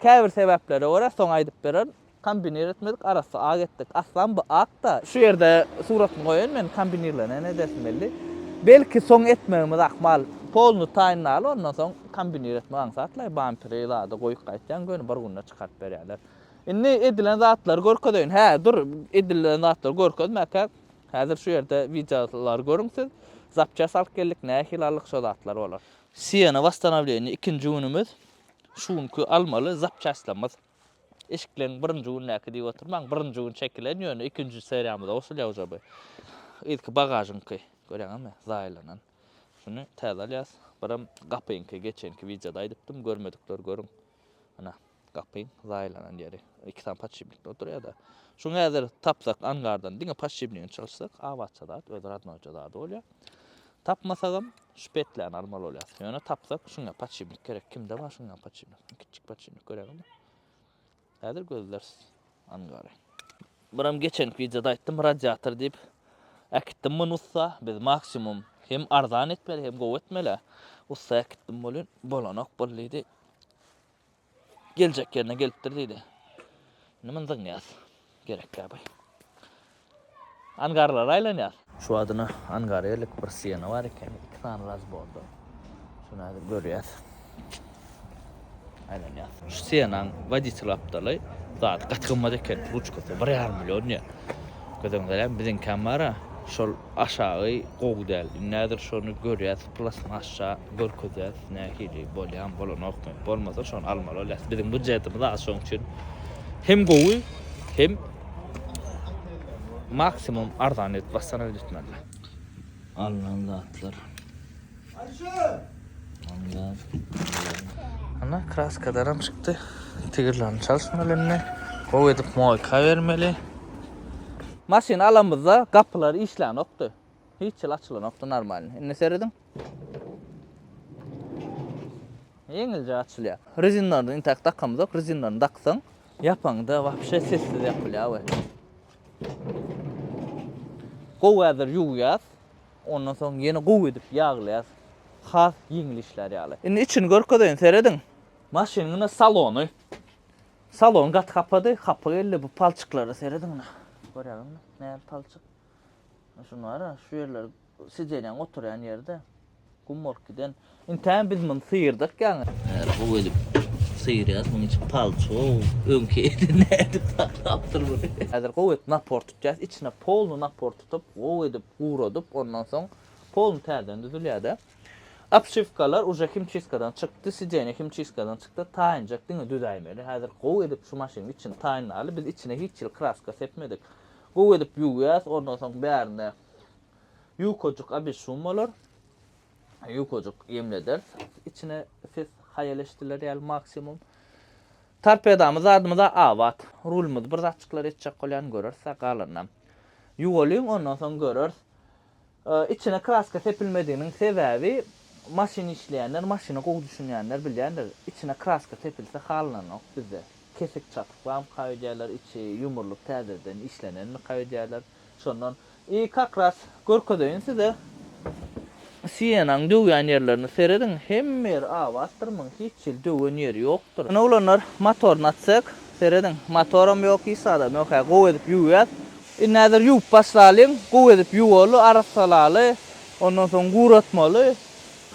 Käbir sebäplere görä, soň aýdyp bererin. Kombinir etmedik, arassa ak etdik. Aslan bu ak-da. Şu ýerde suratyny goýaýyn men, kombinirlenen edersiň belli. Belki soň etmegimiz ahmal. Polny taýynlaly, ondan soň kombinir etmek aňsatlaý, bamperi zady goýup gaýtýaň, göni bir günde çykaryp berýärler. Indi edilen zatlary görkezeýin. Hä, dur, edilen zatlary görkezmäkäk, häzir şu ýerde wideolary görüň siz. Zapçast alyp geldik, nähili aldyk, şo zatlar bolar. Siena wosstanowleniýa ikinji günümiz. Şu günki almaly zapçastlarymyz eşikleň birinji gündäki diýip oturmaň, birinji gün çekilen ýöne ikinji seriýamyza goşulýar uje bu. Yzky bagažyňky görýäňizmi zaýalanan. Şuny täze alýas. Birem gapyňky geçenki wideoda aýdypdym, görmedikler görüň. Ana gapyň zaýalanan ýeri. Iki sany podşipnikde oturýada. Şuny häzir tapsak angardan diňe podşipnigini çalyşsak abatça zat, öz radnoýja zady bolýar. Tapmasagam, şu petläni almaly bolýas. Ýöne tapsak, şuňa paçimnik gerek. Kimde bar şuňa paçimnik? Kiçjik paçimnik göräýmeli. Häzir gözleris. Angary. Buram geçenki wideoda aýtdym, radiator diýip. Äkitdim muny ussa. Biz maksimum hem arzan etmeli, hem gowy etmeli. Ussa äkitdim welin, bolanok bol diýdi. Geljek yerine gelipdir diýdi. Indi myn zyňýas. Gerek ýa bay. Angarlara aýlanýas. Şu adyna angar ýerlik bir stena bar eken. Iki sany razborda. Şuny häzir görýäs. Aýlanýas. Şu stenaň woditel apdaly zady gaty gymmat eken. Ruçkasy bir ýarym million diýýär. Göz öňüňde biziňkäm bar-a. Şol Aşagy gowy däl. Nädir şony görýäs plasmasça görkezýäs nähili bolýamy bolanokmy. Bolmasa şony almaly bolýas. Biziň budjetimiz az şoň üçin hem gowy hem maksimum arzan edip wassalam edip etmeli. Alnan zatlar. Ana kraska daram çykdy. Tigirlerini çalyşmaly indi. Gowy edip moýka bermeli. Maşyny alamyzda gapylar işlänokdy. Hiç ýyl açylanokdy normalny. Indi serediň. Ýeňilje açylýar. Rezinlaryny intäk dakamyz ýok. Rezinlaryny daksaň, ýapaňda wapşe sessiz ýapylýar we gowy häzir ýuwýas. Ondan soň ýene gowy edip ýaglaýas. Has ýeňil işlär ýaly. Indi içini görkezeýin, serediň. Maşynyň ine salony. Salon gaty hapady, hapa geldi. Bu palçyklara serediň ine. Görýäňizmi? Näme palçyk. Şuny bar-a, şu ýerler sidenýaň oturýan ýerde gum bolup giden. Intäm biz muny syýrdyk ýaňy. Häli gowy edip syýrýas. Munuň içi palço. Öňki eti nädip saklapdyr muny. Häzir gowy edip napor tutýas. Içine polny napor tutup, gowy edip guradyp, ondan soň polny täzeden düzülýär-de. Obşiwkalar uje himçiskadan çykdy, sideniýe himçiskadan çykdy. Taýynjak diňe düzäýmeli. Häzir gowy edip şu maşynyň içini taýynlaly. Biz içine hiç hili kraska sepmedik. Gowy edip ýuwýas, ondan soň bärinde ýukajyk abişum bolar. ýukajyk ýemlederis. Içine siz haýal eşdiler ýaly maksimum. Torpedamyz zadymyza abat. Rulymyzy bir zatjyklar etjek bolýan göreris-ä galanynam. Ýuwalyň ondan soň göreris. Içine kraska sepilmediginiň sebäbi maşyn işleýänler, maşyna gowy düşünýänler bilýändir. Içine kraska sepilse halananok bizde. Kesik çatyk bamyka öýdýärler, içi ýumurlyp täzeden işlenenmika öýdýärler. Şondan i kak ras görkezeýin size Sienanyň döwýän ýerlerini serediň hemme ýeri abatdyr muň hiç hili döwen ýeri ýokdyr. Ine oglanlar motoryny açsak serediň motoram ýok hiç zadam ýok hä gowy edip ýuwýas. Indi häzir ýuwup başlalyň gowy edip ýuwaly arassalaly ondan soň guratmaly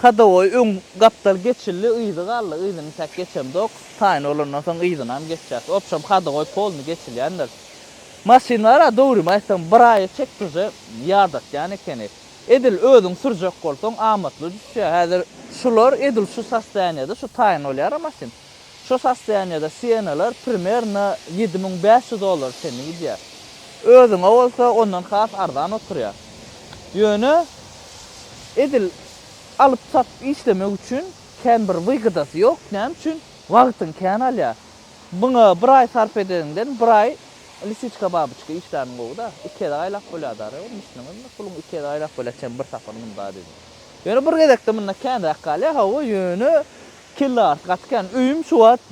Hadowoý öň gapdal geçildi, yzy galdy, yzyny täk geçemzok. Taýyn bolandan soň yzynam geçjäs. Obşem hadowoý polny geçilýändir. Maşynlar-a dogrymy aýtsam bir aýa çek tuje ýadatýan ekeni. Edil özüň sürjek bolsaň amatly düşýär. Häzir şular edil şu sostoýaniýada şu taýyn bolýar-a maşyn. Şu sostoýaniýada Siena-lar primerno ýedi müň bäş ýüz dollara çenli gidýär. Özüňe bolsa ondan has arzan oturýar. Ýöne edil alyp-sat işlemek üçin kän bir wygydasy ýok, näme üçin? Wagtyň kän alýar. Muňa bir aý sarp edeniňden bir aý lisiçka babyçka işläniň gowy-da. Iki gezek aýlap bolýar-da reýim, düşdüňizmi? Puluň iki gezek aýlap bolýar çen bir sapar munda diýdim. Ýöne bir gezekde munda känräk galýar, hawa, ýöne Kelle arty gaty kän. Öýüm şu wagt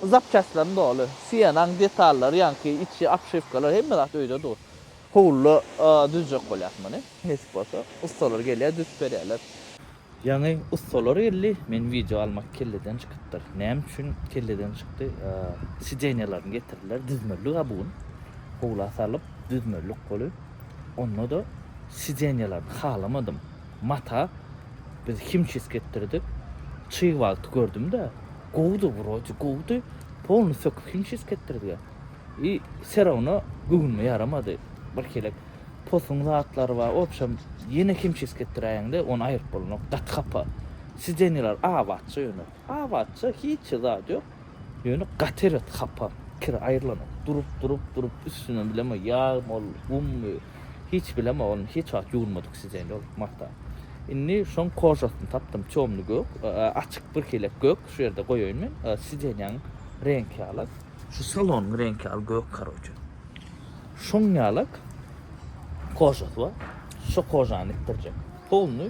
zapçastlaryň doly. Sienanyň detallary, ýaňky içi obşiwkalar hemme zat öýde dur. Howluda düzjek bolýas muny. Nesip bolsa, ussalar gelýär, düzüp berýärler. Ýaňy ussalar geldi, men wideo almak kelleden çykypdyr. Näme üçin kelleden çykdy? Sidenýalaryny getirdiler, düzmeli-ha bu gün. Howla salyp, düzmeli goly. Onda-da sidenýalaryny halamadym. Mata biz himçisk etdirdik. Çyg wagty gördüm-de, gowudy wrodi, gowudy. Polny söküp himçisk etdirdiga. I serowno göwnüme ýaramady. Birhilek posuň zatlary bar. Obşem ýene himçisk etdiräýeňde ony aýryp bolnok. Gaty hapa. Sideniýalar abatja ýöne. Abatja hiç zat ýok. Ýöne gaty erbet hapa, kir aýrylanok. Durup, durup, durup, üstünden bilemok, ýag mol, gummy, hiç bilemok, ony hiç wagt ýuwunmadyk sizeýin ol mata. Indi şoň kožasyny tapdym, tёmny gök, açyk birhili gök, şu ýerde goýaýyn men, sidenýaň reňki ýalak. Şu salonyň reňki ýaly gök karoçe. Şoň ýalak kožasy bar, şo kožany itdirjek. Polny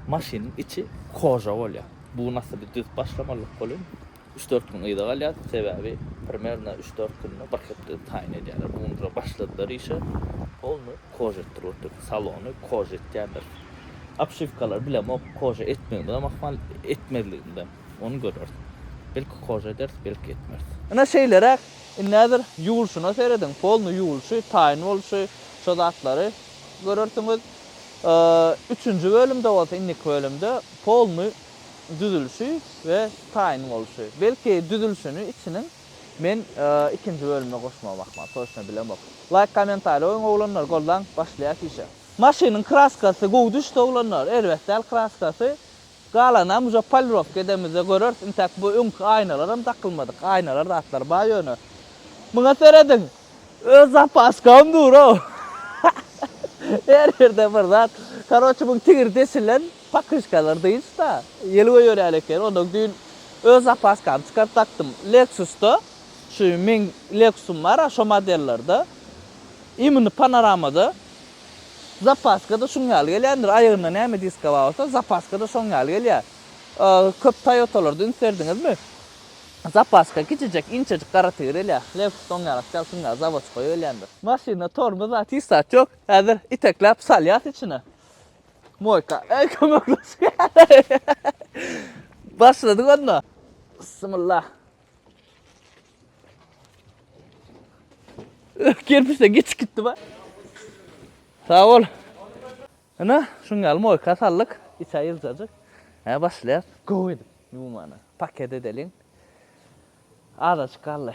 maşynyň içi koža bolýar. Bu nasyby düz başlamalyk bolin. Üç dört gün yza galýas sebäbi primerno üç dört günde bir hepde taýyn edýärler. Bu gün dura başladylar işe. Polny kož etdirip otyr. Salony kož etýärler. Obşiwkalary bilemok kož etmegimizem ahmal etmezligimizem. Ony göreris. Belki kož ederis belki etmeris. Ine şeýleräk. Indi häzir ýuwulşyna serediň. Polny ýuwulşy, taýyn bolşy, şo zatlary Görersiňiz, üçünji bölümde bolsa, indiki bölümde polny düzülişi we taýyn boluşy. Belki düzülişini içiniň men ikinji bölümde goşmagy ahmal, toçno bilemok. Laýk kommentariý goýuň oglanlar goldaň, başlaýas işe. Maşynyň kraskasy gowy düşdi oglanlar, erbet däl kraskasy, Galanam uje polirowka edemizde göreris, intäk bu öňki aýnalaram dakylmadyk, aýnalar zatlary bar ýöne. Muňa serediň! Öz zapaskam dur-ow. Her ýerde bir zat. Karoçe muň tigir deşilen pakyşkalar dynç-da. Ýelwä ýörýän ekeni, onnoň düýn öz zapaskamy çykaryp dakdym. Lexus-da, şu meň Lexus-ym bar-a, şo modellerde. Imini panoramada. Zapaska-da şuň ýaly gelýändir. Aýagynda näme diska bar bolsa, zapaska-da şoň ýaly gelýär. Köp Toýotalarda üns berdiňizmi? Zapaska kiçijek, inçejik gara tigir gelýär. Lexus-da oň ýaly spesial şuň ýaly zawodskoýa gelýändir. Maşynda tormoz zat, hiç zat ýok. Häzir itekläp salýas içine. Moýka. Eý, kömekleşýär. Başladyk onda. Bysmyllah. Öh, kerpiçde geçip gitdi ba. Sag bol. Ine, şuň ýaly moýka saldyk. Içi ýyljajyk. Hä, başlaýar. Gowy edip ýumana. Paket edeliň. Azajyk galdy.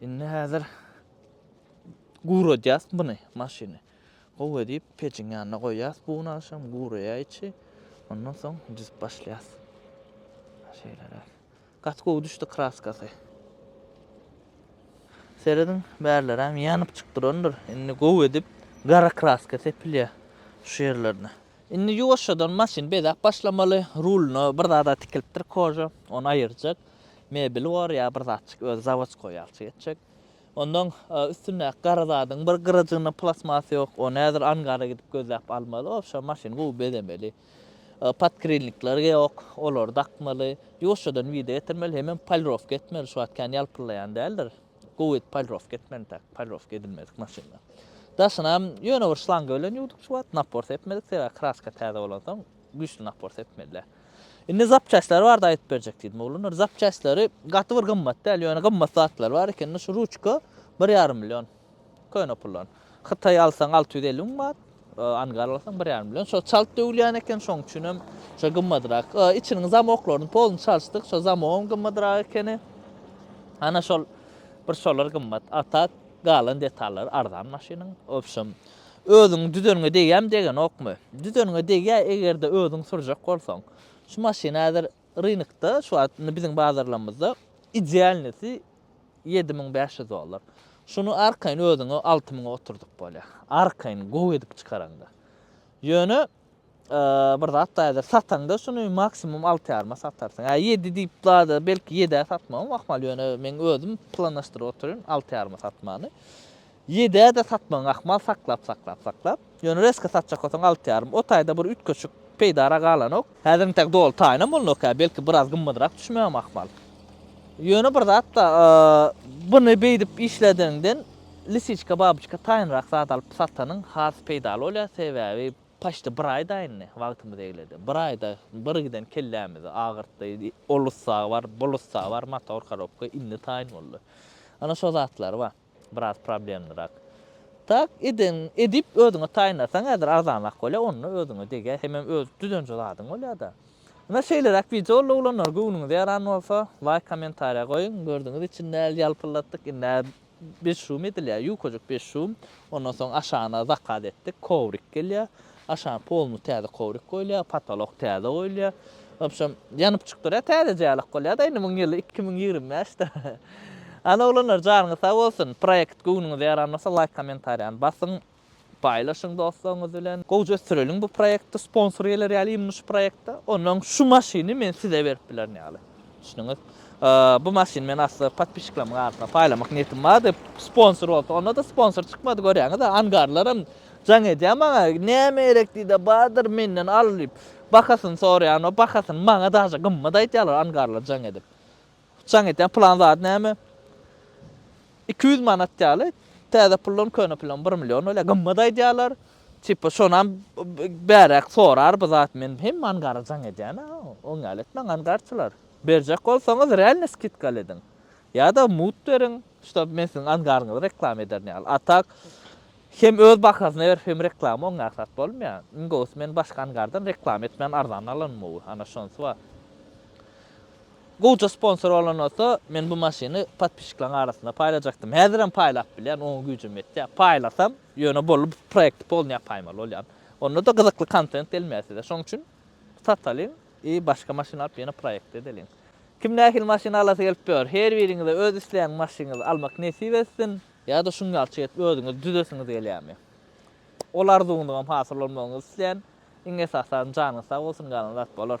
Indi häzir guradýas buny maşyny. Gowy edip pejiň ýanyna goýýas bu gün agşam guraýa içi. Ondan soň düzüp başlaýas. Şeýleräk. Gaty gowy düşdi kraskasy. Serediň bärleräm ýanyp çyk durandyr. Indi gowy edip gara kraska sepilýär şu ýerlerine. Indi ýuwaşjadan maşyny bezäp başlamaly. Ruluna bir zada tikilipdir koža. Ony aýyrjak. mebeli bor ýa bir zatjyk özi zawodskoý ýalçy geçjek. Ondan üstündäki gara zadyň bir gyrajygynda plastmas ýok, ony häzir angara gidip gözläp almaly, obşa maşyny gowy bezemeli. Podkrilnikler ýok, olary dakmaly. Ýuwaşjadan wide getirmeli, hemem polirowka etmeli, şu wagt kän ýalpyllaýan däldir. Gowy edip polirowka etmeli, intäk polirowka edilmedik maşynlar. Daşynam ýöne bir şlanga bilen ýuwduk şu wagt, napor sepmedik, sebäbi kraska täze bolansoň Güýçli napor sepmeli. Indi zapçastlary barada aýdyp berjek diýdim oglanlar. Zapçastlary gaty bir gymmat däl, ýöne gymmat zatlar bar eken. Indi şu ruçka bir ýarym million. Köne puldan. Hytaý alsaň alty ýüz elli müň manat, angar alsaň bir ýarym million. Şo çalt döwülýän eken, şoň üçin hem şo gymmadyrak. Içiniň zamoklaryny poluny çalyşdyk, şo zamogam gymmadyrak ekeni. Ana şol bir şolar gymmat. A tak galan detallary arzan maşynyň. Wobşem, Özüň düzeniňe degýämi degenokmy? Düzeniňe degýä egerde özüň sürjek bolsaň. Şu maşyn häzir rynokda şu wagt indi biziň bazarlamyzda idealnysi ýedi müň bäş ýüz dollar. Şuny arkaýyn özüňe alty müňe oturdyp bolýa. Arkaýyn gowy edip çykaraňda. Ýöne bir zat daýadyr. Sataňda şuny maksimum 6 ýaryma satarsyň. Ä 7 diýip daýadyr, belki 7-ä satmagam ahmal, ýöne men özüm planlaşdyryp oturyn 6 ýaryma satmany. 7-ä de satmagyň ahmal saklap, saklap, saklap. Ýöne reska satjak bolsaň 6 ýarym. O taýda bir üýtgeşik peýdara galanok. Häzir intäk doly taýynam bolnok, ä belki biraz gymmadrak düşmegem ahmal. Ýöne bir zat da, buny beýdip işledigiňden Lisiçka babyçka taýynrak zat alyp satanyň has peýdaly bolýar, sebäbi paçti bir aý daýyndy, wagtymyz egledi. Bir aýda bir giden kellämizi agyrtdy, ol ussa bar, bul ussa bar, motor korobka indi taýyn boldy. Ana şo zatlar bar, biraz problemnyrak. Tak eden edip özüňe taýynlasaň häzir arzanrak bolýar, onda özüňe degýär, hemem öz düzenje zadyň bolýar-da. Ine şeýleräk wideo oldy oglanlar, göwnüňize ýaran bolsa laýk kommentariýa goýuň, gördüňiz içindäl ýalpyldatdyk, indi Beş şum edilýär, ýukajyk beş şum. Ondan soň aşagyna zakaz etdik, kowrik gelýär. Aşagyň poluny täze kowrik goýulýar, potolok täze goýulýar. Wobşem, ýanyp çykyp durýar, täzeje ýalak bolýar-da, indi muň ýyly iki müň ýigrimi bäşdir. Hany oglanlar, janyňyz sag bolsun! Proýekt göwnüňize ýaran bolsa, laýk, kommentariýany basyň! Paýlaşyň dostlaryňyz bilen. Gowja ösdüreliň bu proýekti sponsor geler ýaly ymyş proýekte. Onnoň şu maşyny men size berip bilerin ýaly. Düşündüňiz? Bu maşyny men asla podpisçiklerimiň arasynda paýlamak niýetim bar diýip sponsor bolsa onda-da sponsor çykmady görýäňiz-ä angarlaram jaň edýär maňa näme gerek diýde bardyr menden al diýip bahasyny soraýan o bahasyny maňa daže gymmat aýtýarlar angarlar jaň edip Jaň etýän plan zady näme? Iki ýüz manat ýaly, täze pullam, köne pullam bir million bolýar. Gymmat aýdýarlar. Tipa şonam bäräk sorar bu zat. Men hem mangara jaň edýän-ä. Oň ýaly etmäň, angarçylar. Berjek bolsaňyz realny skidkaly ediň. Ýa-da mut beriň, ştab men siziň angaryňyzy reklama ederin ýaly. A tak, hem öz bahasyna berip, hem reklama oň ýaly zat bolmaýar. Iň gowusy men başga angardan reklama etmän arzan alanym gowy. Ana şonysy bar. Gowja sponsor bolan bolsa men bu maşyny podpisçikleriň arasynda paýlajakdym. Häzirem paýlap bilýän oňa güýjüm ýetýär. Paýlasam ýöne bolly bu proýekti polny ýapaýmaly bolýan. Ondada gyzykly kontent gelmeýär size. Şoň üçin satalyň i başga maşyn alyp ýene proýekt edeliň. Kim nähili maşyn alasy gelip ýör. Her biriňize öz islän maşynyňyzy almak nesip etsin. Ýa-da şuň ýaly çyk edip özüňiz düzesiňiz gelýärmi? Ol arzuwyňyzam hasyl bolmagyňyzy isleýän. Iň esasy zat janyňyz sag bolsun galan zat bolar.